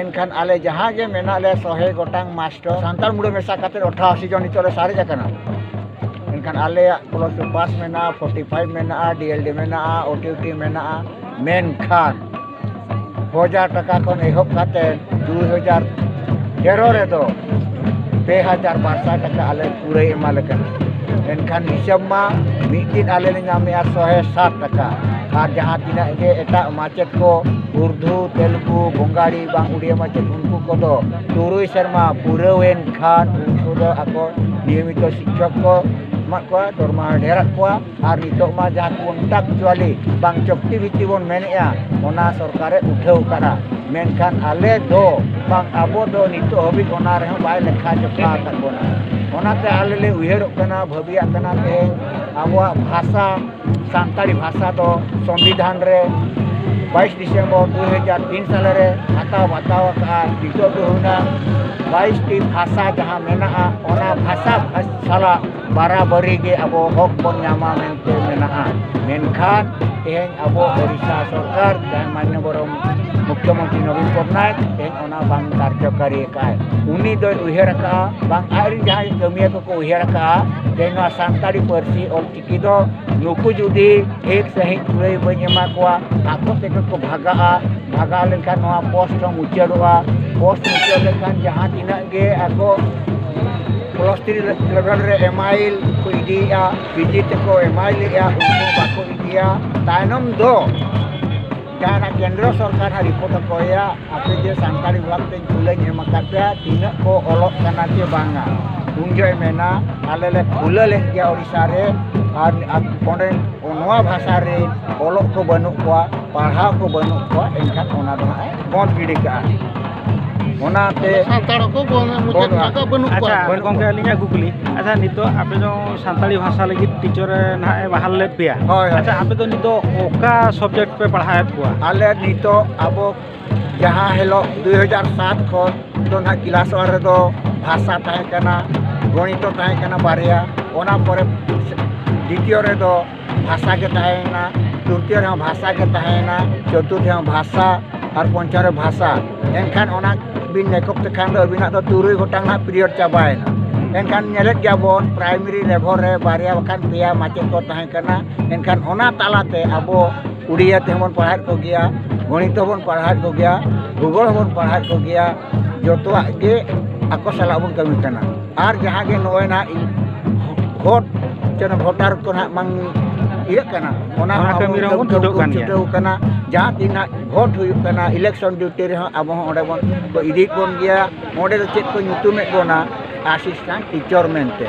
ᱮᱱᱠᱷᱟᱱ ᱟᱞᱮ ᱡᱟᱦᱟᱸ ᱜᱮ ᱢᱮᱱᱟᱜ ᱞᱮ ᱥᱚᱦᱮ ᱜᱚᱴᱟᱝ ᱢᱟᱥᱴᱚᱨ ᱥᱟᱱᱛᱟᱲ ᱢᱩᱬᱩ ᱢᱮᱥᱟ ᱠᱟᱛᱮ ᱚᱴᱷᱟᱥᱤ ᱡᱚᱱ ᱱᱤᱛᱚᱜ ᱞᱮ ᱥᱟᱨᱮᱡ ᱟᱠᱟᱱᱟ ᱮᱱᱠᱷᱟᱱ ᱟᱞᱮᱭᱟᱜ ᱯᱞᱚᱥ ᱴᱩ ᱯᱟᱥ ᱢᱮᱱᱟᱜᱼᱟ ᱯᱷᱳᱨᱴᱤ ᱯᱷᱟᱭᱤᱵᱷ ᱢᱮᱱᱟᱜᱼᱟ ᱰᱤ ᱮᱞ ᱰᱤ ᱢᱮᱱᱟᱜᱼᱟ ᱳ ᱴᱤ ᱴᱤ ᱢᱮᱱᱟᱜᱼᱟ ᱢᱮᱱᱠᱷᱟᱱ ᱦᱟᱡᱟᱨ ᱴᱟᱠᱟ ᱠᱷᱚᱱ ᱮᱦᱚᱵ ᱠᱟᱛᱮ ᱫᱩ ᱦᱟᱡᱟᱨ ᱛᱮᱨᱚ ᱨᱮᱫᱚ ᱯᱮ ᱦᱟᱡᱟᱨ ᱵᱟᱨ ᱥᱟᱭ ᱴᱟᱠᱟ ᱟᱞᱮ ᱠᱩᱲᱟᱹᱭ ᱮᱢᱟᱞᱮ ᱠᱟᱱᱟ ᱮᱱᱠᱷᱟᱱ ᱦᱤᱥᱟᱹᱵ ᱢᱟ ᱢᱤᱫ ᱫᱤᱱ ᱟᱞᱮ ᱞᱮ ᱧᱟᱢᱮᱜᱼᱟ ᱥᱚᱦᱮ ᱥᱟᱛ ᱴᱟᱠᱟ ᱟᱨ ᱡᱟᱦᱟᱸ ᱛᱤᱱᱟᱹᱜ ᱜᱮ ᱮᱴᱟᱜ ᱢᱟᱪᱮᱫ ᱠᱚ ᱩᱨᱫᱩ ᱛᱮᱞᱜᱩ ᱵᱚᱝᱜᱟᱲᱤ ᱵᱟᱝ ᱩᱲᱤᱭᱟ ᱢᱟᱪᱮᱫ ᱩᱱᱠᱩ ᱠᱚᱫᱚ ᱛᱩᱨᱩᱭ ᱥᱮᱨᱢᱟ ᱯᱩᱨᱟᱹᱣ ᱮᱱᱠᱷᱟᱱ ᱩᱱᱠᱩ ᱫᱚ ᱟᱠᱚ ᱱᱤᱭᱚᱢᱤᱛᱚ ᱥᱤᱠᱠᱷᱚᱠ ᱠᱚ ᱮᱢᱟᱜ ᱠᱚᱣᱟ ᱫᱚᱨᱢᱟᱦᱟ ᱰᱷᱮᱨᱟᱜ ᱠᱚᱣᱟ ᱟᱨ ᱱᱤᱛᱚᱜ ᱢᱟ ᱡᱟᱦᱟᱸ ᱠᱚᱱᱴᱟᱠᱪᱩᱣᱟᱞᱤ ᱵᱟᱝ ᱪᱚᱠᱛᱤᱵᱤᱛᱛᱤ ᱵᱚᱱ ᱢᱮᱱᱮᱫᱼᱟ ᱚᱱᱟ ᱥᱚᱨᱠᱟᱨᱮ ᱩᱴᱷᱟᱹᱣ ᱟᱠᱟᱫᱼᱟ ᱢᱮᱱᱠᱷᱟᱱ ᱟᱞᱮ ᱫᱚ ᱵᱟᱝ ᱟᱵᱚ ᱫᱚ ᱱᱤᱛᱚᱜ ᱦᱟᱹᱵᱤᱡ ᱚᱱᱟ ᱨᱮᱦᱚᱸ ᱵᱟᱭ ᱞᱮᱠᱷᱟ ᱡᱚᱠᱷᱟ ᱟᱠᱟᱫ ᱵᱚᱱᱟ ᱚᱱᱟᱛᱮ ᱟᱞᱮ ᱞᱮ ᱩᱭᱦᱟᱹᱨᱚᱜ ᱠᱟᱱᱟ ᱵᱷᱟᱹᱵᱤᱭᱟᱜ ᱠᱟᱱᱟ ᱞᱮ ᱟᱵᱚᱣᱟᱜ ᱵᱷᱟᱥᱟ ᱥᱟᱱᱛᱟᱲᱤ ᱵᱷᱟᱥᱟ ᱫᱚ ᱥᱚᱝᱵᱤᱫᱷᱟᱱ ᱨᱮ ᱵᱟᱭᱤᱥ ᱰᱤᱥᱮᱢᱵᱚᱨ ᱫᱩ ᱦᱟᱡᱟᱨ ᱛᱤᱱ ᱥᱟᱞᱮ ᱨᱮ ᱦᱟᱛᱟᱣ ᱵᱟᱛᱟᱣ ᱟᱠᱟᱫᱼᱟ ᱱᱤᱛᱚᱜ ᱫᱚ ᱦᱩᱭᱱᱟ ᱵᱟᱭᱤᱥᱴᱤ ᱵᱷᱟᱥᱟ ᱡᱟᱦᱟᱸ ᱢᱮᱱᱟᱜᱼᱟ ᱚᱱᱟ ᱵᱷᱟᱥᱟ ᱥᱟᱞᱟᱜ ᱵᱟᱨᱟ ᱵᱟᱹᱨᱤ ᱜᱮ ᱟᱵᱚ ᱦᱚᱠ ᱵᱚᱱ ᱧᱟᱢᱟ ᱢᱮᱱᱛᱮ ᱢᱮᱱᱟᱜᱼᱟ ᱢᱮᱱᱠᱷᱟᱱ ᱛᱮᱦᱮᱧ ᱟᱵᱚ ᱳᱰᱤᱥᱟ ᱥᱚᱨᱠᱟᱨ ᱡᱟᱦᱟᱸᱭ ᱢᱟᱱᱱᱚ ᱵᱚᱨᱚ ᱢᱩᱠᱠᱷᱚ ᱢᱚᱱᱛᱨᱤ ᱱᱚᱵᱤᱱ ᱯᱚᱴᱱᱟᱭᱮᱠ ᱛᱮᱦᱮᱧ ᱚᱱᱟ ᱵᱟᱝ ᱠᱟᱨᱡᱚᱠᱟᱨᱤ ᱟᱠᱟᱫᱼᱟᱭ ᱩᱱᱤ ᱫᱚᱭ ᱩᱭᱦᱟᱹᱨ ᱟᱠᱟᱫᱼᱟ ᱵᱟᱝ ᱟᱡ ᱨᱮᱱ ᱡᱟᱦᱟᱸᱭ ᱠᱟᱹᱢᱤᱭᱟᱹ ᱠᱚᱠᱚ ᱩᱭᱦᱟᱹᱨ ᱟᱠᱟᱫᱼᱟ ᱡᱮ ᱱᱚᱣᱟ ᱥᱟᱱᱛᱟᱲᱤ ᱯᱟᱹᱨᱥᱤ ᱚᱞ ᱪᱤᱠᱤ ᱫᱚ ᱱᱩᱠᱩ ᱡᱩᱫᱤ ᱴᱷᱤᱠ ᱥᱟᱺᱦᱤᱡ ᱠᱩᱲᱟᱹᱭ ᱵᱟᱹᱧ ᱮᱢᱟ ᱠᱚᱣᱟ ᱟᱠᱚ ᱛᱮᱜᱮ ᱠᱚ ᱵᱷᱟᱜᱟᱜᱼᱟ ᱵᱷᱟᱜᱟᱣ ᱞᱮᱱᱠᱷᱟᱱ ᱱᱚᱣᱟ ᱯᱳᱥᱴ ᱦᱚᱸ ᱢᱩᱪᱟᱹᱫᱚᱜᱼᱟ ᱯᱳᱥᱴ ᱢᱩᱪᱟᱹᱫ ᱞᱮᱱᱠᱷᱟᱱ ᱡᱟᱦᱟᱸ ᱛᱤᱱᱟᱹᱜ ᱜᱮ ᱟᱠᱚ ᱯᱚᱞᱚᱥᱛᱤ ᱞᱮᱵᱮᱞ ᱨᱮ ᱮᱢ ᱟᱭ ᱮᱞ ᱠᱚ ᱤᱫᱤᱭᱮᱫᱼᱟ ᱯᱤᱡᱤ ᱛᱮᱠᱚ ᱮᱢ ᱟᱭ ᱮᱞ ᱮᱫᱼᱟ ᱩᱱᱠᱩ ᱵᱟᱠᱚ ᱤᱫᱤᱭᱟ ᱛᱟᱭᱱᱚᱢ ᱫᱚ ᱡᱟᱦᱟᱱᱟᱜ ᱠᱮᱱᱫᱨᱚ ᱥᱚᱨᱠᱟᱨ ᱦᱟᱸᱜ ᱨᱤᱯᱳᱨᱴ ᱮ ᱠᱚᱭᱟ ᱟᱯᱮ ᱡᱮ ᱥᱟᱱᱛᱟᱲᱤ ᱵᱤᱵᱷᱟᱜᱽ ᱛᱮ ᱠᱩᱞᱟᱹᱧ ᱮᱢ ᱟᱠᱟᱫ ᱯᱮᱭᱟ ᱛᱤᱱᱟᱹᱜ ᱠᱚ ᱚᱞᱚᱜ ᱠᱟᱱᱟ ᱥᱮ ᱵᱟᱝᱟ ᱩᱱ ᱡᱚᱦᱚᱜ ᱢᱮᱱᱟ ᱟᱞᱮ ᱞᱮ ᱠᱷᱩᱞᱟᱹ ᱞᱮᱫ ᱜᱮᱭᱟ ᱳᱰᱤᱥᱟ ᱨᱮ ᱟᱨ ᱚᱸᱰᱮ ᱱᱚᱣᱟ ᱵᱷᱟᱥᱟ ᱨᱮ ᱚᱞᱚᱜ ᱠᱚ ᱵᱟᱹᱱᱩᱜ ᱠᱚᱣᱟ ᱯᱟᱲᱦᱟᱣ ᱠᱚ ᱵᱟᱹᱱᱩᱜ ᱠᱚᱣᱟ ᱮᱱᱠᱷᱟᱱ ᱚᱱᱟ ᱫᱚ ᱦᱟᱸᱜ ᱮ ᱵᱚᱱᱫ ᱜᱤᱰᱤ ᱠᱟᱜᱼᱟ ᱚᱱᱟᱛᱮ ᱥᱟᱱᱛᱟᱲ ᱠᱚ ᱢᱩᱪᱟᱹᱫ ᱠᱟᱜ ᱵᱟᱹᱱᱩᱜ ᱠᱚᱣᱟ ᱟᱪᱪᱷᱟ ᱜᱚᱢᱠᱮ ᱟᱹᱞᱤᱧᱟᱜ ᱠᱩᱠᱞᱤ ᱟᱪᱪᱷᱟ ᱱᱤᱛᱚᱜ ᱟᱯᱮ ᱫᱚ ᱥᱟᱱᱛᱟᱲᱤ ᱵᱷᱟᱥᱟ ᱞᱟᱹᱜᱤᱫ ᱴᱤᱪᱟᱨ ᱱᱟᱦᱟᱜ ᱮ ᱵᱟᱦᱟᱞ ᱞᱮᱫ ᱯᱮᱭᱟ ᱦᱳᱭ ᱟᱪᱪᱷᱟ ᱟᱯᱮ ᱫᱚ ᱱᱤᱛᱚᱜ ᱚᱠᱟ ᱥᱟᱵᱡᱮᱠᱴ ᱯᱮ ᱯᱟᱲᱦᱟᱣᱮᱫ ᱠᱚᱣᱟ ᱟᱞᱮ ᱱᱤᱛᱚᱜ ᱟᱵᱚ ᱡᱟᱦᱟᱸ ᱦᱤᱞᱳᱜ ᱫᱩ ᱦᱟᱡᱟᱨ ᱥᱟᱛ ᱠᱷᱚᱱ ᱫᱚ ᱱᱟᱦᱟᱜ ᱠᱞᱟᱥ ᱚᱣᱟᱱ ᱨᱮᱫᱚ ᱵᱷᱟᱥᱟ ᱛᱟᱦᱮᱸ ᱠᱟᱱᱟ ᱜᱚᱱᱤᱛᱚ ᱛᱟᱦᱮᱸ ᱠᱟᱱᱟ ᱵᱟᱨᱭᱟ ᱚᱱᱟ ᱯᱚᱨᱮ ᱫᱤᱛᱤᱭᱚ ᱨᱮᱫᱚ ᱵᱷᱟᱥᱟ ᱜᱮ ᱛᱟᱦᱮᱸᱭᱮᱱᱟ ᱛᱨᱤᱛᱤᱭᱚ ᱨᱮᱦᱚᱸ ᱵᱷᱟᱥᱟ ᱜᱮ ᱛᱟᱦᱮᱸᱭᱮᱱᱟ ᱪᱚᱛᱩᱨᱛᱷ ᱨᱮᱦᱚᱸ ᱵᱷᱟᱥᱟ ᱟᱨ ᱯᱚᱧᱪᱚᱢ ᱨᱮ ᱵᱷᱟᱥᱟ ᱮᱱᱠᱷᱟᱱ ᱚᱱᱟ ᱵᱤᱱ ᱢᱮᱠᱚᱯ ᱞᱮᱠᱷᱟᱱ ᱫᱚ ᱟᱹᱵᱤᱱᱟᱜ ᱫᱚ ᱛᱩᱨᱩᱭ ᱜᱚᱴᱟᱝ ᱦᱟᱸᱜ ᱯᱤᱨᱤᱭᱚᱰ ᱪᱟᱵᱟᱭᱮᱱᱟ ᱮᱱᱠᱷᱟᱱ ᱧᱮᱞᱮᱫ ᱜᱮᱭᱟ ᱵᱚᱱ ᱯᱨᱟᱭᱢᱟᱨᱤ ᱞᱮᱵᱷᱮᱞ ᱨᱮ ᱵᱟᱨᱭᱟ ᱵᱟᱠᱷᱟᱱ ᱯᱮᱭᱟ ᱢᱟᱪᱮᱫ ᱠᱚ ᱛᱟᱦᱮᱸ ᱠᱟᱱᱟ ᱮᱱᱠᱷᱟᱱ ᱚᱱᱟ ᱛᱟᱞᱟᱛᱮ ᱟᱵᱚ ᱩᱰᱤᱭᱟ ᱛᱮᱦᱚᱸ ᱵᱚᱱ ᱯᱟᱲᱦᱟᱣᱮᱫ ᱠᱚᱜᱮᱭᱟ ᱜᱚᱱᱤᱛ ᱦᱚᱸᱵᱚᱱ ᱯᱟᱲᱦᱟᱣᱮᱫ ᱠᱚᱜᱮᱭᱟ ᱵᱷᱩᱜᱳᱞ ᱦᱚᱸᱵᱚᱱ ᱯᱟᱲᱦᱟᱣᱮᱫ ᱠᱚᱜᱮᱭᱟ ᱡᱚᱛᱚᱣᱟᱜ ᱜᱮ ᱟᱠᱚ ᱥᱟᱞᱟᱜ ᱵᱚᱱ ᱠᱟᱹᱢᱤ ᱠᱟᱱᱟ ᱟᱨ ᱡᱟᱦᱟᱸ ᱜᱮ ᱱᱚᱜᱼᱚᱭ ᱱᱟᱜ ᱵᱷᱳᱴ ᱪᱮ ᱵᱷᱳᱴᱟᱨ ᱠᱚ ᱱᱟᱜ ᱵᱟᱝ ᱤᱭᱟᱹᱜ ᱠᱟᱱᱟ ᱚᱱᱟ ᱚᱱᱟ ᱠᱟᱹᱢᱤ ᱨᱮᱦᱚᱸ ᱵᱚᱱ ᱪᱷᱩᱴᱟᱹᱣ ᱠᱟᱱ ᱜᱮᱭᱟ᱾ ᱪᱷᱩᱴᱟᱹᱣ ᱠᱟᱱᱟ ᱡᱟᱦᱟᱸ ᱛᱤᱱᱟᱹᱜ ᱵᱷᱳᱴ ᱦᱩᱭᱩᱜ ᱠᱟᱱᱟ ᱤᱞᱮᱠᱥᱚᱱ ᱰᱤᱭᱩᱴᱤ ᱨᱮᱦᱚᱸ ᱟᱵᱚ ᱦᱚᱸ ᱚᱸᱰᱮ ᱵᱚᱱ ᱠᱚ ᱤᱫᱤᱭᱮᱫ ᱵᱚᱱ ᱜᱮᱭᱟ ᱚᱸᱰᱮ ᱫᱚ ᱪᱮᱫ ᱠᱚ ᱧᱩᱛᱩᱢᱮᱫ ᱵᱚᱱᱟ ᱟᱥᱤᱥᱴᱮᱱᱴ ᱴᱤᱪᱚᱨ ᱢᱮᱱᱛᱮ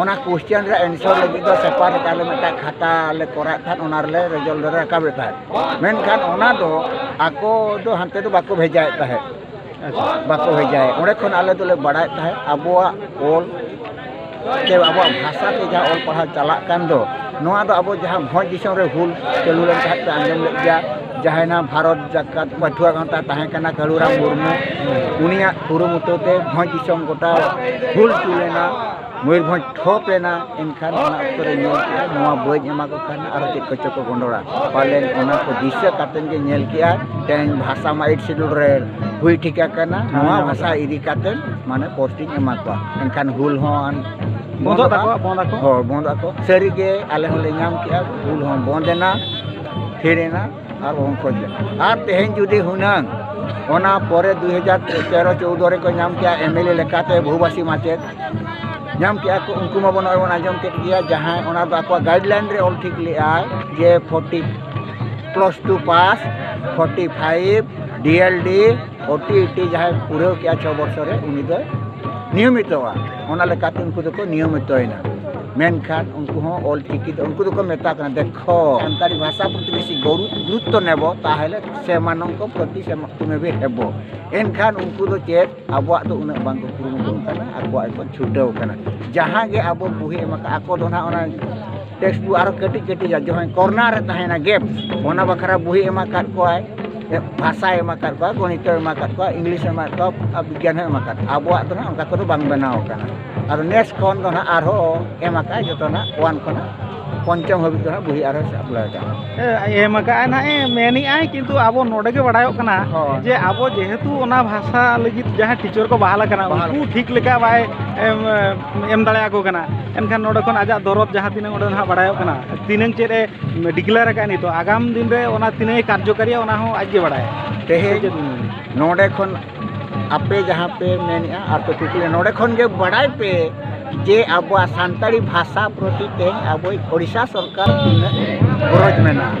ᱚᱱᱟ ᱠᱚᱥᱪᱮᱱ ᱨᱮ ᱮᱱᱥᱟᱨ ᱞᱟᱹᱜᱤᱫ ᱫᱚ ᱯᱮᱯᱟᱨ ᱨᱮ ᱟᱞᱮ ᱢᱤᱫᱴᱟᱝ ᱠᱷᱟᱛᱟ ᱞᱮ ᱠᱚᱨᱟᱣᱮᱫ ᱛᱟᱦᱮᱸᱫ ᱚᱱᱟ ᱨᱮᱞᱮ ᱨᱮᱡᱟᱞᱴ ᱞᱮ ᱨᱟᱠᱟᱵᱮᱫ ᱛᱟᱦᱮᱸᱫ ᱢᱮᱱᱠᱷᱟᱱ ᱚᱱᱟ ᱫᱚ ᱟᱠᱚ ᱫᱚ ᱦᱟᱱᱛᱮ ᱫᱚ ᱵᱟᱠᱚ ᱵᱷᱮᱡᱟᱭᱮᱫ ᱛᱟᱦᱮᱸᱫ ᱵᱟᱠᱚ ᱵᱷᱮᱡᱟᱭᱮᱫ ᱚᱸᱰᱮ ᱠᱷᱚᱱ ᱟᱞᱮ ᱫᱚᱞᱮ ᱵᱟᱲᱟᱭᱮᱫ ᱛᱟᱦᱮᱸᱫ ᱟᱵᱚᱣᱟᱜ ᱚᱞ ᱥᱮ ᱟᱵᱚᱣᱟᱜ ᱵᱷᱟᱥᱟ ᱛᱮ ᱡᱟᱦᱟᱸ ᱚᱞ ᱯᱟᱲᱦᱟᱣ ᱪᱟᱞᱟᱜ ᱠᱟᱱ ᱫᱚ ᱱᱚᱣᱟ ᱫᱚ ᱟᱵᱚ ᱡᱟᱦᱟᱸ ᱵᱷᱚᱸᱡᱽ ᱫᱤᱥᱚᱢ ᱨᱮ ᱦᱩᱞ ᱪᱟᱹᱞᱩ ᱞᱮᱱ ᱛᱟᱦᱮᱸᱫ ᱯᱮ ᱟᱸᱡᱚᱢ ᱞᱮᱫ ᱜᱮᱭᱟ ᱡᱟᱦᱟᱸᱭᱱᱟ ᱵᱷᱟᱨᱚᱛ ᱡᱟᱠᱟᱛ ᱯᱟᱹᱴᱷᱩᱣᱟᱹ ᱜᱟᱶᱛᱟ ᱛᱟᱦᱮᱸ ᱠᱟᱱᱟ ᱠᱟᱹᱞᱩᱨᱟᱢ ᱢᱩᱨᱢᱩ ᱩᱱᱤᱭᱟᱜ ᱠᱩᱨᱩᱢᱩᱴᱩ ᱛᱮ ᱵᱷᱚᱸᱡᱽ ᱫᱤᱥᱚᱢ ᱜᱚᱴᱟ ᱦᱩᱞ ᱪᱩ ᱞᱮᱱᱟ ᱢᱚᱭᱩᱨᱵᱷᱚᱸᱡᱽ ᱴᱷᱚᱯ ᱞᱮᱱᱟ ᱮᱱᱠᱷᱟᱱ ᱚᱱᱟ ᱚᱠᱛᱚ ᱨᱮ ᱧᱮᱞ ᱠᱮᱜᱼᱟ ᱱᱚᱣᱟ ᱵᱟᱹᱧ ᱮᱢᱟ ᱠᱚ ᱠᱷᱟᱱ ᱟᱨᱚ ᱪᱮᱫ ᱠᱚᱪᱚ ᱠᱚ ᱜᱚᱸᱰᱚᱲᱟ ᱯᱟᱞᱮᱱ ᱚᱱᱟ ᱠᱚ ᱫᱤᱥᱟᱹ ᱠᱟᱛᱮ ᱜᱮ ᱧᱮᱞ ᱠᱮᱜᱼᱟ ᱛᱮᱦᱮᱧ ᱵᱷᱟᱥᱟ ᱢᱟ ᱮᱭᱤᱴ ᱥᱤᱰᱩᱞ ᱨᱮ ᱦᱩᱭ ᱴᱷᱤᱠ ᱟᱠᱟᱱᱟ ᱱᱚᱣᱟ ᱵᱷᱟᱥᱟ ᱤᱫᱤ ᱠᱟᱛᱮ ᱢᱟᱱᱮ ᱯᱳᱥᱴᱤᱝ ᱮᱢᱟ ᱠᱚᱣᱟ ᱮᱱᱠᱷᱟᱱ ᱦᱩᱞ ᱦᱚᱸ ᱵᱚᱱᱫᱚᱜ ᱛᱟᱠᱚᱣᱟ ᱵᱚᱱᱫᱚᱜ ᱟᱠᱚ ᱦᱳᱭ ᱵᱚᱱᱫᱚᱜ ᱟᱠᱚ ᱥᱟᱹᱨᱤᱜᱮ ᱟᱞᱮ ᱦᱚᱸᱞᱮ ᱧᱟᱢ ᱠᱮᱜᱼᱟ ᱦᱩᱞ ᱦᱚᱸ ᱵᱚᱱᱫᱮᱱᱟ ᱛᱷᱤᱨ ᱮᱱᱟ ᱟᱨ ᱩᱱᱠᱩ ᱟᱨ ᱛᱮᱦᱮᱧ ᱡᱩᱫᱤ ᱦᱩᱱᱟᱹᱝ ᱚᱱᱟ ᱯᱚᱨᱮ ᱫᱩ ᱦᱟᱡᱟᱨ ᱛᱮᱨᱚ ᱪᱳᱫᱽᱫᱳ ᱨᱮᱠᱚ ᱧᱟᱢ ᱠᱮᱜᱼᱟ ᱮᱢ ᱮᱞ ᱮ ᱞᱮᱠᱟᱛᱮ ᱵᱚᱦᱩᱵᱷᱟᱥᱤ ᱢᱟᱪᱮᱫ ᱧᱟᱢ ᱠᱮᱜᱼᱟ ᱠᱚ ᱩᱱᱠᱩ ᱢᱟᱵᱚᱱ ᱱᱚᱜᱼᱚᱭ ᱵᱚᱱ ᱟᱸᱡᱚᱢ ᱠᱮᱜ ᱜᱮᱭᱟ ᱡᱟᱦᱟᱸᱭ ᱚᱱᱟ ᱫᱚ ᱟᱠᱚᱣᱟᱜ ᱜᱟᱭᱤᱰ ᱞᱟᱭᱤᱱ ᱨᱮ ᱚᱞ ᱴᱷᱤᱠ ᱞᱮᱜ ᱟᱭ ᱡᱮ forty plus two pass forty five D L D ᱳ ᱴᱤ ᱤ ᱴᱤ ᱡᱟᱦᱟᱸᱭ ᱯᱩᱨᱟᱹᱣ ᱠᱮᱜᱼᱟ ᱪᱷᱚ ᱵᱚᱪᱷᱚᱨ ᱨᱮ ᱩᱱᱤ ᱫᱚᱭ ᱱᱤᱭᱚᱢᱤᱛᱚᱜᱼᱟ ᱚᱱᱟ ᱞᱮᱠᱟᱛᱮ ᱩᱱᱠᱩ ᱫᱚᱠᱚ ᱱᱤᱭᱚᱢᱤᱛᱚᱭᱮᱱᱟ ᱢᱮᱱᱠᱷᱟᱱ ᱩᱱᱠᱩ ᱦᱚᱸ ᱚᱞ ᱪᱤᱠᱤ ᱫᱚ ᱩᱱᱠᱩ ᱫᱚᱠᱚ ᱢᱮᱛᱟ ᱠᱟᱱᱟ ᱫᱮᱠᱷᱚ ᱥᱟᱱᱛᱟᱲᱤ ᱵᱷᱟᱥᱟ ᱯᱨᱚᱛᱤ ᱵᱮᱥᱤ ᱜᱩᱨᱩᱛᱛᱚ ᱱᱮᱵᱚ ᱛᱟᱦᱚᱞᱮ ᱥᱮᱢᱟᱱᱚᱝᱠᱚ ᱯᱨᱚᱛᱤ ᱥᱮᱢᱟᱛᱩᱢᱮᱵᱮ ᱦᱮᱵᱚ ᱮᱱᱠᱷᱟᱱ ᱩᱱᱠᱩ ᱫᱚ ᱪᱮᱫ ᱟᱵᱚᱣᱟᱜ ᱫᱚ ᱩᱱᱟᱹᱜ ᱵᱟᱝᱠᱚ ᱠᱩᱨᱩᱢᱩᱴᱩ ᱠᱟᱱᱟ ᱟᱠᱚᱣᱟᱜ ᱜᱮᱠᱚ ᱪᱷᱩᱴᱟᱹᱣ ᱠᱟᱱᱟ ᱡᱟᱦᱟᱸ ᱜᱮ ᱟᱵᱚ ᱵᱩᱦᱤ ᱮᱢ ᱠᱟᱜᱼᱟ ᱟᱠᱚ ᱫᱚ ᱦᱟᱸᱜ ᱚᱱᱟ ᱴᱮᱠᱥᱴ ᱵᱩᱠ ᱟᱨᱚ ᱠᱟᱹᱴᱤᱡ ᱠᱟᱹᱴᱤᱡ ᱡᱟᱦᱟᱸ ᱠᱚᱨᱱᱟᱨ ᱨᱮ ᱛᱟᱦᱮᱱᱟ ᱜᱮᱯ ᱚᱱᱟ ᱵᱟᱠᱷᱨᱟ ᱵᱩᱦᱤ ᱮᱢ ᱟᱠᱟᱫ ᱠᱚᱣᱟᱭ ᱵᱷᱟᱥᱟᱭ ᱮᱢ ᱟᱠᱟᱫ ᱠᱚᱣᱟ ᱜᱚᱱᱤᱛ ᱮᱢ ᱟᱠᱟᱫ ᱠᱚᱣᱟ ᱤᱝᱞᱤᱥ ᱮᱢ ᱟᱠᱟᱫ ᱠᱚᱣᱟ ᱟᱨ ᱵᱤᱜᱽᱜᱟᱱ ᱦᱚᱸ ᱮᱢ ᱟᱠᱟᱫ ᱠᱚᱣᱟ ᱟᱵᱚᱣᱟᱜ ᱫᱚ ᱦᱟᱸᱜ ᱚᱱᱠᱟ ᱠᱚᱫᱚ ᱵᱟᱝ ᱵᱮᱱᱟᱣ ᱟᱠᱟᱱᱟ ᱟᱫᱚ ᱱᱮᱥ ᱠᱷᱚᱱ ᱫᱚ ᱦᱟᱸᱜ ᱟᱨᱦᱚᱸ ᱮᱢ ᱟᱠᱟᱫ ᱟᱭ ᱡᱚᱛᱚ ᱦᱟᱸᱜ ᱚᱣᱟᱱ ᱠᱷᱚᱱ ᱦᱟᱸᱜ ᱯᱚᱧᱪᱚᱢ ᱦᱟᱹᱵᱤᱡ ᱫᱚ ᱦᱟᱸᱜ ᱵᱩᱦᱤ ᱟᱨᱦᱚᱸ ᱥᱟᱯᱞᱟᱭ ᱟᱠᱟᱫ ᱮᱢ ᱟᱠᱟᱫ ᱟᱭ ᱱᱟᱦᱟᱜ ᱮ ᱢᱮᱱᱮᱫ ᱟᱭ ᱠᱤᱱᱛᱩ ᱟᱵᱚ ᱱᱚᱰᱮ ᱜᱮ ᱵᱟᱲᱟᱭᱚᱜ ᱠᱟᱱᱟ ᱡᱮ ᱟᱵᱚ ᱡᱮᱦᱮᱛᱩ ᱚᱱᱟ ᱵᱷᱟᱥᱟ ᱞᱟᱹᱜᱤᱫ ᱡᱟᱦᱟᱸ ᱴᱤᱪᱟᱨ ᱠᱚ ᱵᱟᱦᱟᱞ ᱟᱠᱟᱱᱟ ᱩᱱᱠᱩ ᱴᱷᱤᱠ ᱞᱮᱠᱟ ᱵᱟᱭ ᱮᱢ ᱫᱟᱲᱮᱭᱟᱠᱚ ᱠᱟᱱᱟ ᱮᱱᱠᱷᱟᱱ ᱱᱚᱰᱮ ᱠᱷᱚᱱ ᱟᱡᱟᱜ ᱫᱚᱨᱚᱫ ᱡᱟᱦᱟᱸ ᱛᱤᱱᱟᱹᱜ ᱚᱸᱰᱮ ᱱᱟᱦᱟᱜ ᱵᱟᱲᱟᱭᱚᱜ ᱠᱟᱱᱟ ᱛᱤᱱᱟᱹᱝ ᱪᱮᱫ ᱮ ᱰᱤᱠᱞᱮᱭᱟᱨ ᱟᱠᱟᱫᱼᱟ ᱱᱤᱛᱚᱜ ᱟᱜᱟᱢ ᱫᱤᱱ ᱨᱮ ᱚᱱᱟ ᱛᱤᱱᱟᱹᱜ ᱮ ᱠᱟᱨᱡᱚᱠᱟᱨᱤᱭᱟ ᱚᱱᱟ ᱦᱚᱸ ᱟᱡ ᱜᱮ ᱵᱟᱲᱟᱭᱟ ᱛᱮᱦᱮᱧ ᱱᱚᱰᱮ ᱠᱷᱚᱱ ᱟᱯᱮ ᱡᱟᱦᱟᱸ ᱯᱮ ᱢᱮᱱᱮᱜᱼᱟ ᱟᱨ ᱯᱮ ᱠᱩᱠᱞᱤ ᱱᱚᱰᱮ ᱠᱷᱚᱱ ᱜᱮ ᱵᱟᱲᱟᱭ ᱯᱮ ᱡᱮ ᱟᱵᱚᱣᱟᱜ ᱥᱟᱱᱛᱟᱲᱤ ᱵᱷᱟᱥᱟ ᱯᱨᱚᱛᱤ ᱛᱮᱦᱮᱧ ᱟᱵᱚᱭᱤᱡ ᱳᱰᱤᱥᱟ ᱥᱚᱨᱠᱟᱨ ᱛᱤᱱᱟᱹᱜ ᱜᱚᱨᱚᱡᱽ ᱢᱮᱱᱟᱜᱼᱟ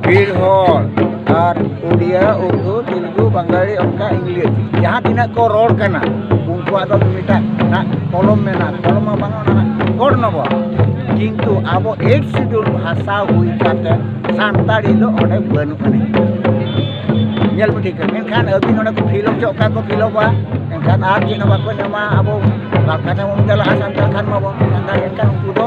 ᱵᱷᱤᱲ ᱦᱚᱲ ᱟᱨ ᱩᱰᱤᱭᱟ ᱩᱨᱫᱩ ᱛᱮᱞᱜᱩ ᱵᱟᱝᱜᱟᱞᱤ ᱚᱱᱠᱟ ᱤᱝᱞᱤᱥ ᱡᱟᱦᱟᱸ ᱛᱤᱱᱟᱹᱜ ᱠᱚ ᱨᱚᱲ ᱠᱟᱱᱟ ᱩᱱᱠᱩᱣᱟᱜ ᱫᱚ ᱢᱤᱫᱴᱟᱝ ᱱᱟᱜ ᱠᱚᱞᱚᱢ ᱢᱮᱱᱟᱜᱼᱟ ᱠᱚᱞᱚᱢ ᱢᱟ ᱵᱟᱝ ᱚᱱᱟ ᱜᱚᱲ ᱱᱚᱵᱚ ᱠᱤᱱᱛᱩ ᱟᱵᱚ ᱮᱠ ᱥᱤᱰᱩᱞ ᱵᱷᱟᱥᱟ ᱦᱩᱭ ᱠᱟᱛᱮ ᱥᱟᱱᱛᱟᱲᱤ ᱫᱚ ᱚᱸᱰᱮ ᱵᱟᱹᱱᱩᱜ ᱟᱹᱱᱤᱡ ᱧᱮᱞ ᱯᱮ ᱴᱷᱤᱠ ᱢᱮᱱᱠᱷᱟᱱ ᱟᱹᱵᱤᱱ ᱚᱸᱰᱮ ᱠᱚ ᱯᱷᱤᱞ ᱦᱚᱪᱚ ᱚᱠᱟ ᱠᱚ ᱯᱷᱤᱞᱚᱯᱟ ᱮᱱᱠᱷᱟᱱ ᱟᱨ ᱪᱮᱫ ᱦᱚᱸ ᱵᱟᱠᱚ ᱧᱟᱢᱟ ᱟᱵᱚ ᱵᱟᱝᱠᱷᱟᱱ ᱵᱚᱱ ᱪᱟᱞᱟᱜᱼᱟ ᱥᱟᱱᱛᱟᱲ ᱠᱷᱟᱱ ᱢᱟᱵᱚᱱ ᱥᱟᱱᱛᱟᱲ ᱮᱱᱠᱷᱟᱱ ᱩᱱᱠᱩ ᱫᱚ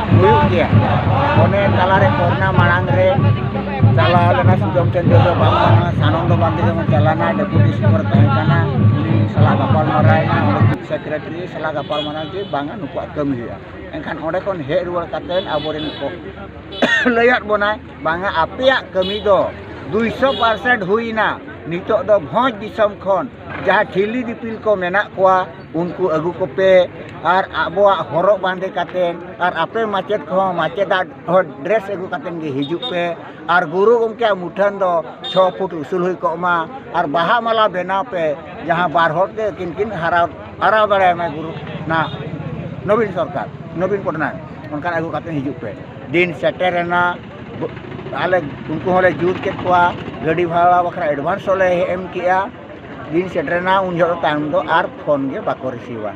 ᱦᱩᱭᱩᱜ ᱜᱮᱭᱟ ᱚᱱᱮ ᱛᱟᱞᱟᱨᱮ ᱠᱚᱨᱳᱱᱟ ᱢᱟᱲᱟᱝ ᱨᱮ ᱪᱟᱞᱟᱣ ᱞᱮᱱᱟ ᱥᱩᱡᱚᱢ ᱪᱚᱱᱫᱨᱚ ᱫᱚ ᱵᱟᱝ ᱠᱟᱱᱟ ᱥᱟᱱᱚᱱᱫᱚ ᱵᱟᱱᱫᱮ ᱡᱮᱢᱚᱱ ᱪᱟᱞᱟᱣ ᱞᱮᱱᱟᱭ ᱰᱮᱯᱩᱴᱤ ᱥᱯᱤᱠᱟᱨ ᱛᱟᱦᱮᱸ ᱠᱟᱱᱟ ᱩᱱᱤ ᱥᱟᱞᱟᱜ ᱜᱟᱯᱟᱞ ᱢᱟᱨᱟᱣ ᱮᱱᱟ ᱚᱸᱰᱮ ᱪᱤᱯ ᱥᱮᱠᱨᱮᱴᱟᱨᱤ ᱥᱟᱞᱟᱜ ᱜᱟᱯᱟᱞ ᱢᱟᱨᱟᱣ ᱡᱮ ᱵᱟᱝᱟ ᱱᱩᱠᱩᱣᱟᱜ ᱠᱟᱹᱢᱤ ᱦᱩᱭᱩᱜᱼᱟ ᱮᱱᱠᱷᱟᱱ ᱚᱸᱰᱮ ᱠᱷᱚᱱ ᱦᱮᱡ ᱨᱩᱣᱟᱹᱲ ᱠᱟᱛᱮ ᱟᱵᱚᱨᱮᱱ ᱠᱚ ᱞᱟᱹᱭᱟᱫ ᱵᱚᱱᱟᱭ ᱵᱟᱝᱟ ᱟᱯᱮᱭᱟᱜ ᱠᱟᱹᱢᱤ ᱫᱚ ᱫᱩᱭᱥᱚ ᱯᱟᱨᱥᱮᱱᱴ ᱦᱩᱭᱱᱟ ᱱᱤᱛᱚᱜ ᱫᱚ ᱵᱷᱚᱸᱡᱽ ᱫᱤᱥᱚᱢ ᱠᱷᱚᱱ ᱡᱟᱦᱟᱸ ᱴᱷᱤᱞᱤ ᱫᱤᱯᱤᱞ ᱠᱚ ᱢᱮᱱᱟᱜ ᱠᱚᱣᱟ ᱩᱱᱠᱩ ᱟᱹᱜᱩ ᱠᱚᱯᱮ ᱟᱨ ᱟᱵᱚᱣᱟᱜ ᱦᱚᱨᱚᱜ ᱵᱟᱸᱫᱮ ᱠᱟᱛᱮ ᱟᱨ ᱟᱯᱮ ᱢᱟᱪᱮᱫ ᱠᱚᱦᱚᱸ ᱢᱟᱪᱮᱫᱟᱜ ᱦᱚᱸ ᱰᱨᱮᱥ ᱟᱹᱜᱩ ᱠᱟᱛᱮ ᱜᱮ ᱦᱤᱡᱩᱜ ᱯᱮ ᱟᱨ ᱜᱩᱨᱩ ᱜᱚᱢᱠᱮᱭᱟᱜ ᱢᱩᱴᱷᱟᱹᱱ ᱫᱚ ᱪᱷᱚ ᱯᱷᱩᱴ ᱩᱥᱩᱞ ᱦᱩᱭ ᱠᱚᱜ ᱢᱟ ᱟᱨ ᱵᱟᱦᱟ ᱢᱟᱞᱟ ᱵᱮᱱᱟᱣ ᱯᱮ ᱡᱟᱦᱟᱸ ᱵᱟᱨ ᱦᱚᱲ ᱛᱮ ᱟᱹᱠᱤᱱ ᱠᱤᱱ ᱦᱟᱨᱟ ᱦᱟᱨᱟᱣ ᱫᱟᱲᱮᱭᱟᱭ ᱢᱟ ᱜᱩᱨᱩ ᱚᱱᱟ ᱱᱚᱵᱤᱱ ᱥᱚᱨᱠᱟᱨ ᱱᱚᱵᱤᱱ ᱯᱚᱴᱱᱟᱭᱮᱠ ᱚᱱᱠᱟᱱ ᱟᱹᱜᱩ ᱠᱟᱛᱮ ᱦᱤᱡᱩᱜ ᱯᱮ ᱫᱤᱱ ᱥᱮᱴᱮᱨᱮᱱᱟ ᱟᱞᱮ ᱩᱱᱠᱩ ᱦᱚᱸᱞᱮ ᱡᱩᱛ ᱠᱮᱫ ᱠᱚᱣᱟ ᱜᱟᱹᱰᱤ ᱵᱷᱟᱲᱟ ᱵᱟᱠᱷᱨᱟ ᱮᱰᱵᱷᱟᱱᱥ ᱦᱚᱸᱞᱮ ᱮᱢ ᱠᱮᱜᱼᱟ ᱫᱤᱱ ᱥᱮᱴᱮᱨᱮᱱᱟ ᱩᱱ ᱡᱚᱦᱚᱜ ᱫᱚ ᱛᱟᱭᱚᱢ ᱫᱚ ᱟᱨ ᱯᱷᱳᱱ ᱜᱮ ᱵᱟᱠᱚ ᱨᱤᱥᱤᱵᱷᱟ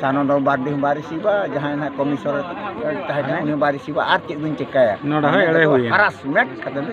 ᱥᱟᱱᱟ ᱫᱚ ᱵᱟᱨ ᱫᱤᱱ ᱵᱟᱭ ᱨᱤᱥᱤᱵᱷᱟ ᱡᱟᱦᱟᱸᱭ ᱱᱟᱦᱟᱜ ᱠᱚᱢᱤᱥᱚᱱᱟᱨ ᱛᱟᱦᱮᱸ ᱠᱟᱱᱟᱭ ᱩᱱᱤ ᱵᱟᱭ ᱨᱤᱥᱤᱵᱷᱟ ᱟᱨ ᱪᱮᱫ ᱫᱚᱧ ᱪᱤᱠᱟᱹᱭᱟ ᱱᱚᱰᱮ ᱦᱚᱸ ᱮᱲᱮ ᱦᱩᱭᱮᱱᱟ ᱦᱟᱨᱟᱥᱢᱮᱱᱴ ᱠᱟᱛᱮᱫ ᱫᱚ